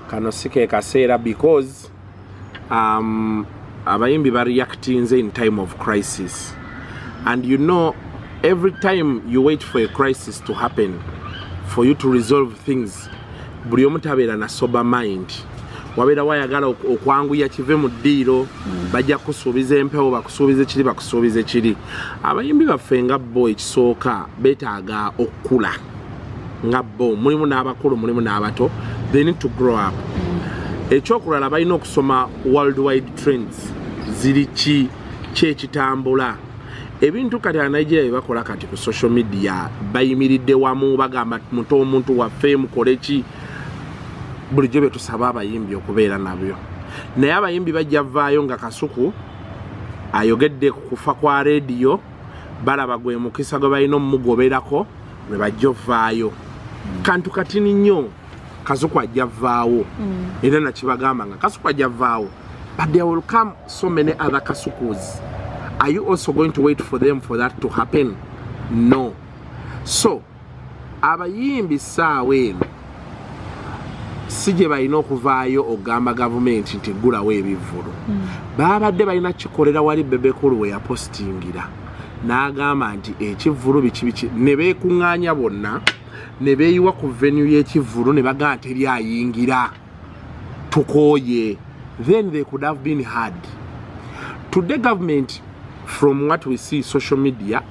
kano si ke kaseera because um, abayimbi ba reactinze in time of crisis and you know every time you wait for a crisis to happen for you to resolve things buli omu tabeera na sober mind wabeera wayagala okwanguya kive mu ddiiro mm. bajja kusuubiza empewo bakusuubiza ekiri bakusuubiza ekiri abayimbi baffe nga bo ekisooka betaaga okukula nga bo mulimu n'abakulu mulimu n'abato they need to grow up mm. ekyokulala balina okusoma world wide trends ziri ki kyekitambula ebintu kati anigeria byebakola kati ku social media bayimiridde wamu bagamba muto omuntu waffe mukole ki bulijjo byetusaba abayimbi okubeera nabyo naye abayimbi bajja vaayo nga kasuku ayogedde kufa kwa rediyo balaba gwe mukisa gwe balina omumugoberako lwe bajja ovaayo mm. kantu katini nnyo kasuku ajja vvaawo mm. era nakibagamba nga kasuku ajja vvaawo but there will come so many other kasukus are you also going to wait for them for that to happen no so abayimbi saawa eno si gye balina okuvaayo okugamba gavumenti nti ggulawo ebivvulu hmm. baabadde balina kikolera wali bebekulu we yapositingira n'agamba nti ekivvulu bikibiki ne beekuŋŋaanya bonna ne beeyiwa ku venu y'ekivvulu ne bagamba teri ayingira tukooye then they could have been hard today government from what we see social media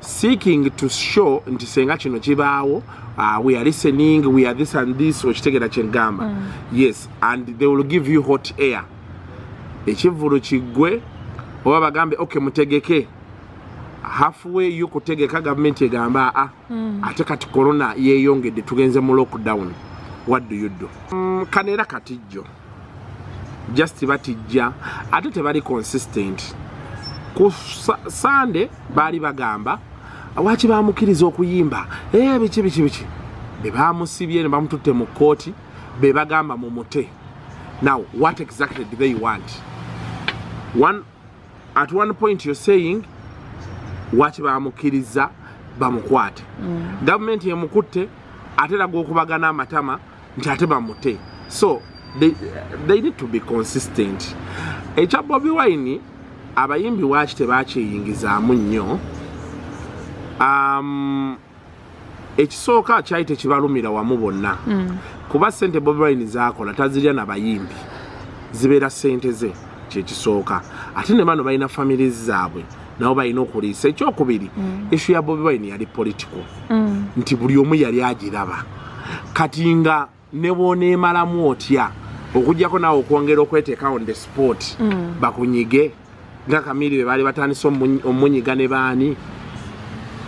seeking to show nti senga kino kibaawo uh, we are listening we are this and this okitegera kyengamba mm. yes and they will give you hot air ekivulu kiggwe oba bagambe ok mutegeke halfway yo kutegeka gavumenti egamba aa ah, mm. ate kati korona yeyongedde tugenze mu lockdown what do you do mm, kanera katijjo just batijja ate tebali consistent ku sande baali bagamba waki bamukiriza okuyimba ee eh, biki biki biki bebamusibye nebamututte mu kooti bebagamba mu mute now what exactly do they want one at one point you're saying waki bamukiriza bamukwate mm. gavumenti emukutte ate laga okubagana amatama nti ate bamute so they, they need to be consistent ekya bobi wine abayimbi waki tebakyeyingizaamu nnyo um, ekisooka kyali tekibalumira wamu bonna mm. kuba sente bobi wine zakola tazirya na bayimbi zibeera sente ze kyekisooka ate ne bano balina families zaabwe nabo balina okuliisa ekyokubiri mm. ishu ya bobi wine yali political mm. nti buli omu yali agiraba kati nga nebwoneemalamu otya okujjako naawe okwongera okweteeka on the sport mm. bakunyige nga kamiri be baali batandise omunyiga ne baani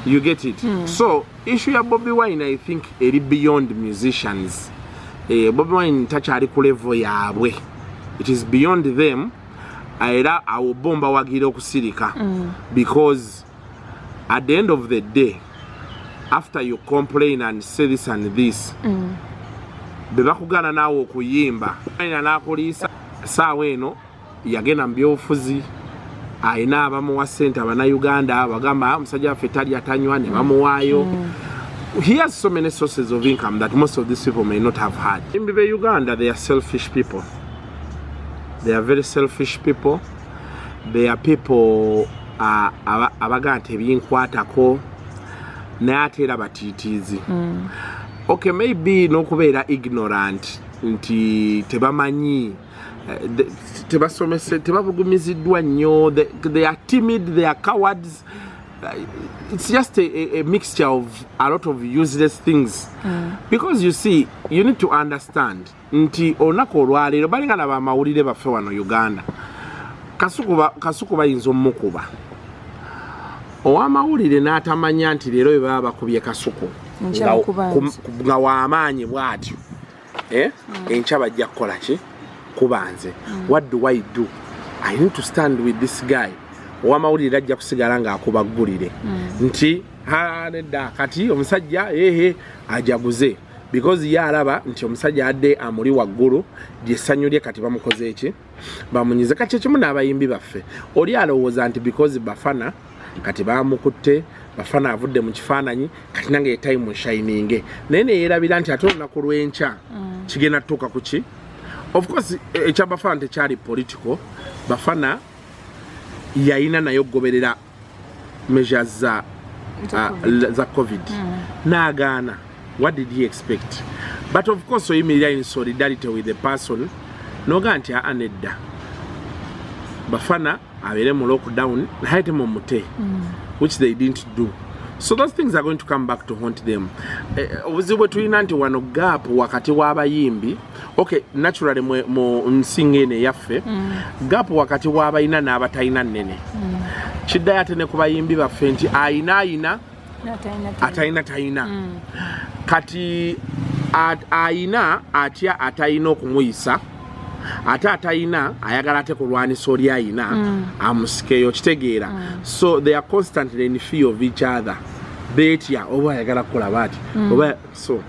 you get it mm. so issu ya bobi wine i think eri beyond musicians eh, bobi wine takyali ku levo yaabwe it is beyond them ah, era awo bo mbawagira okusirika mm. because at the end of the day after you complain and say this and this mm. bebakugaana naawe okuyimba ina nakuliisa saawa eno yagenda mu byobufuzi alina abamuwa sente abanauganda bagamba ah, omusajja waffe tali atanywa ne bamuwaayo mm. he has so many sources of income that most of these people may not have had in uganda they are selfish people they are very selfish people they are people uh, abagaa nti ebinkwatako naye ate era batiitiizi mm. okay maybe n'okubeera ignorant nti tebamanyi eh, tebasomese tebabugumiziddwa nnyo they are timid they are cowards eh, it's just a, a mixture of a lot of useless things mm. because you see you need to understand nti olunaku olwaleero balinga na bamawulire baffe wano uganda kasuku bayinza omukuba owamawulire n'atamanya nti leero bebaba bakubye kasuku nga wamaanyi bwatyo eh? mm. enkya bajja kukola ki kuba nze mm. what do i do i need to stand with this guy owamawulire ajja kusigala ng'akubaggulire mm. nti nedda kati omusajja ehe ajaguze because ye alaba nti omusajja adde amuli waggulu gyesanyu lye kati bamukoze eki bamunyize kati ekimu n'abayimbi baffe oli alowooza nti because bafana kati bamukutte bafana avudde mu kifaananyi kati nange yetayimu shininge naye neyerabira nti ate olunaku lw'enkya mm. kigenda tutuuka ku ki of course e, ekya bafana tekyali political bafana yayina naye okugoberera measures za uh, za covid mm. nagaana what did he expect but of course oyimirira in solidarity with the person noga nti aa nedda bafana abeere mu lockdown naye temumute mm. which they didn't do so those things are going to come back to haunt them eh, obuzibu bwe tulina nti wano gap wakati w'abayimbi ok naturally mwe mu nsinga eno eyaffe mm. gap wakati wabalina n'abatalina nene mm. kiddayo ate ne ku bayimbi baffe nti ayina ayina atalina talina mm. kati ayina atya atalina okumuyisa ate atalina ayagala ate kulwanisa oli ayina mm. amusikeyo kitegeera mm. so they are constantly in fear of each other betya oba ayagala kukola baati mm. so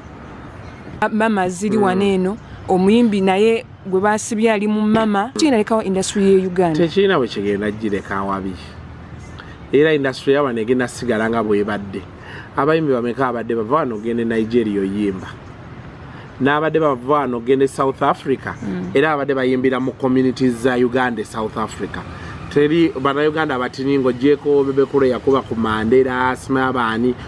mama ziri mm. wano eno omuyimbi naye gwe basibye ali mu mama kinalekawo industry ye uganda tekirina bwe kigenda gireka wabi era industry yawano egenda sigala nga bwebadde abayimbi bameka abadde bava wano ogende nigeria oyimba n'abadde bava wano ogende south africa mm. era abadde bayimbira mu community za uganda e south africa teri banauganda batini ngaogyeko bebekulu yakuba ku mandera asima abaani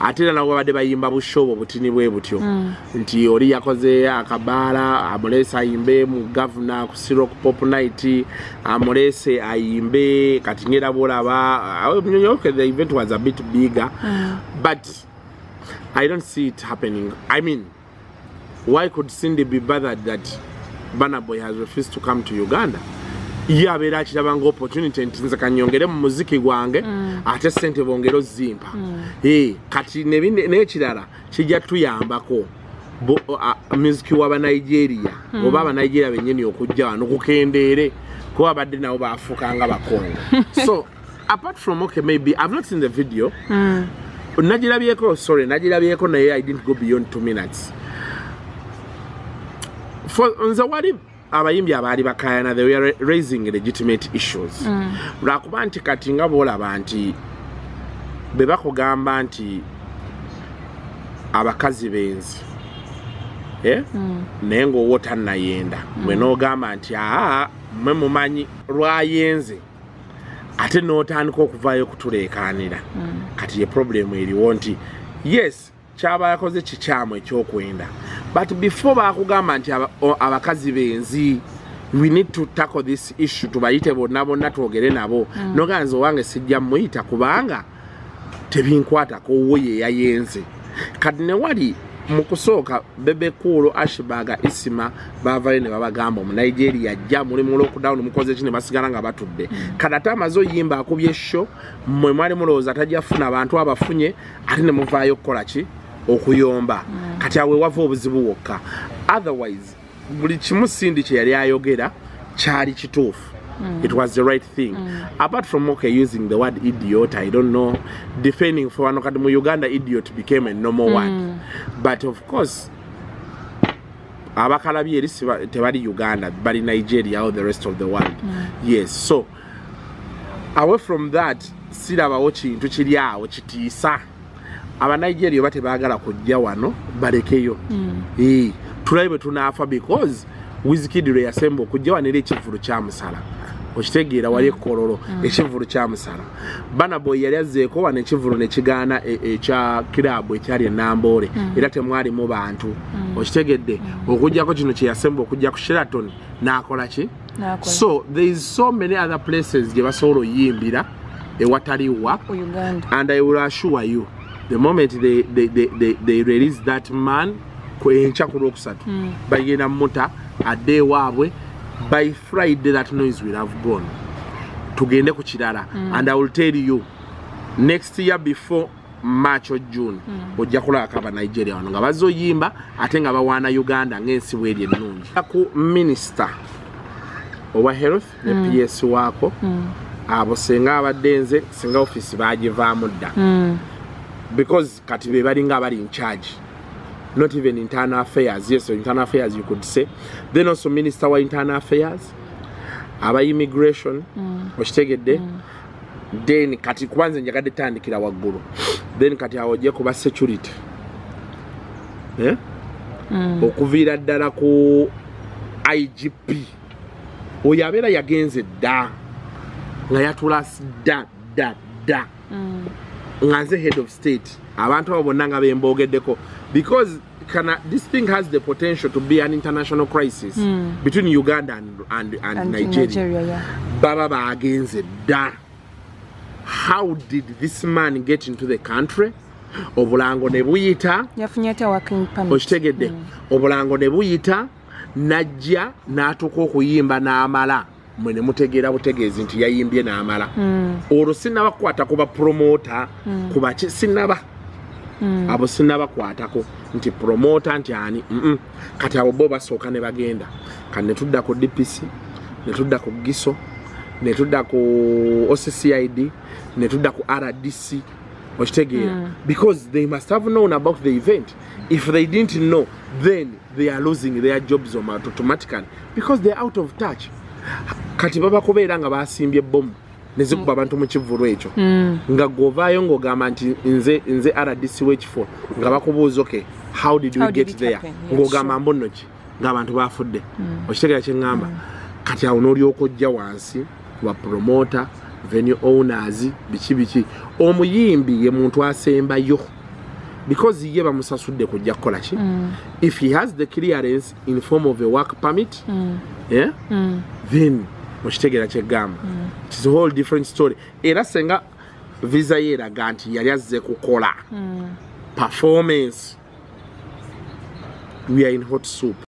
ate era nabo babadde bayimba bushobo butini bwe butyo mm. nti oli yakoze akabaala amuleese ayimbe mu gavuna ku sirok pop night amuleese ayimbe kati ngera bwolaba the event was a bit bigger mm. but i don't see it happening i mean why could cindy be bothered that bana boy has refused to come to uganda ye abeera akiraba nga opportunity nti nze kanyongere mu muziki gwange mm. ate sente bongere ozimpa mm. eh, kati nekirala kijja tuyambako muziki wa banigeria mm. oba abanigeria benyini okujja wano kukendeere kuba badde nabo bafuuka nga bakongo so apart from okay maybe i've not seen the video mm. nagirabyeko sorry nagirabyeko naye i didn't go beyond two minutes for nze wali abayimbi abaali bakayana they were raising legitimate issues mm. lwakuba mm. nti kati nga boolaba nti be bakugamba nti abakazi benzi eh? mm. naye ngaowo tannayenda mm. mwe noogamba nti aa mwe mumanyi lwayenze ate n'otandika okuvaayo okutuleekaanira mm. kati ye problemu eriwo nti yes kyaba yakoze kikyamu ekyokwenda but before bakugamba nti abakazi benzi we need to tackle this issue tubayite bonna bonna twogere nabo mm. noganza owange sijja muyita kubanga tebinkwatako wo ye yayenze kati ne wali mu kusooka bebe kuulu ashbaga isima baavayo ne babagamba omu nigeria ajja muli mu lockdown mukoze ki ne basigala nga batudde kati ate amaze oyimba akubye sho mwe mwali mulowooza tajja funa bantu abafunye ate ne muvaayo okukola ki okuyomba mm. kati awe wava obuzibu wokka otherwise buli kimu sindi kye yali ayogera kyali kituufu Mm. It was the right thing. Mm. Apart from okay using the word idiot, I don't know, defending for one kadmu Uganda idiot became a normal mm. word. But of course, abakalabi eri tebali Uganda, bali Nigeria or the rest of the world. Mm. Yes, so away from that sirabawo kintu kiri awo kitiisa abanigeria oba tebagala kujja wano balekeyo mm. e, tulabe bwe tunaafa because wizikidi lwe yasemba okujja wano era ekivulu kyamusala okitegeera wali ekkololo mm. mm. ekivulu kyamusala banaboy yali azzeeko wano ekivulu nekigaana e, ekya kiraabu ekyali enamboole mm. era temwalimu bantu mm. okitegedde mm. okujjako kino kyeyasemba okujja ku sheraton n'akola ki so there is so many other places gye basobola oyimbira ewatali wa and i will assure you the moment they, they, they, they, they release that man kwenkya ku lwokusatu hmm. bagenda muta adde ewaabwe by friday that noise will have gone tugende ku kirala hmm. and i will tell you next year before march o june mm. ojja kulabako aba nigeria wano nga bazze oyimba ate nga bawaana uganda ng'ensi bweri ennungi ku minisita owa health ne mm. ps waako mm. abo singa abadde nze singa ofiisi bagivaamu dda mm. because kati be balinga abali incharge not even internal affairs yes internal affairs you could say then also minister wa internal affairs aba immigration mm. okitegedde mm. then kati kubanze njagadde tandikira waggulu then kati awo ojje kuba security eh? mm. okuviira ddala ku igp oyo abeera yagenze dda nga yatulasi dda dda dda mm. nga nze head of state abantu abo bonna nga bemboogeddeko because can uh, this thing has the potential to be an international crisis mm. between Uganda and and, and, and Nigeria. Nigeria yeah. Baba baagenze da. How did this man get into the country? Obulango ne buyita. Yafunye ata working permit. Oshitegede. Mm. Obulango ne buyita. Najja natuko kuyimba na amala. mwe ne mutegeera butegeezi nti yayimbye n'amala hmm. olwo sinaba kukwata ku bapromota hmm. ku baki sinaba hmm. abo sinabakwatako nti promota nti ani kati abo bo basooka ne bagenda kati ne tudda ku dpc ne tudda ku giso ne tudda ku occid ne tudda ku rdc okitegeera because they must have known about the event if they didn't know then they are losing their jobs automatically because they're out of touch kati baba kubeera nga basimbye bomu nezikuba abantu mu kivvulu ekyo mm. nga gwovaayo ng'ogamba nti nze nze rdc w'ekifo nga bakubuuza oke how did we get there ng'ogamba mbuno ki ng'abantu baafudde mm. okitegera kye ŋŋamba mm. kati awo n'olyoka ojja wansi wa promota venue owners biki biki omuyimbi ye muntu asembayo because ye bamusasudde kujja kukola ki mm. if he has the clearance in form of a work permit mm. yeah? mm. then okitegeera kyeggamba mm. its a whole different story era senga visa ye eraga nti yali azze kukola hmm. performance we are in hot soup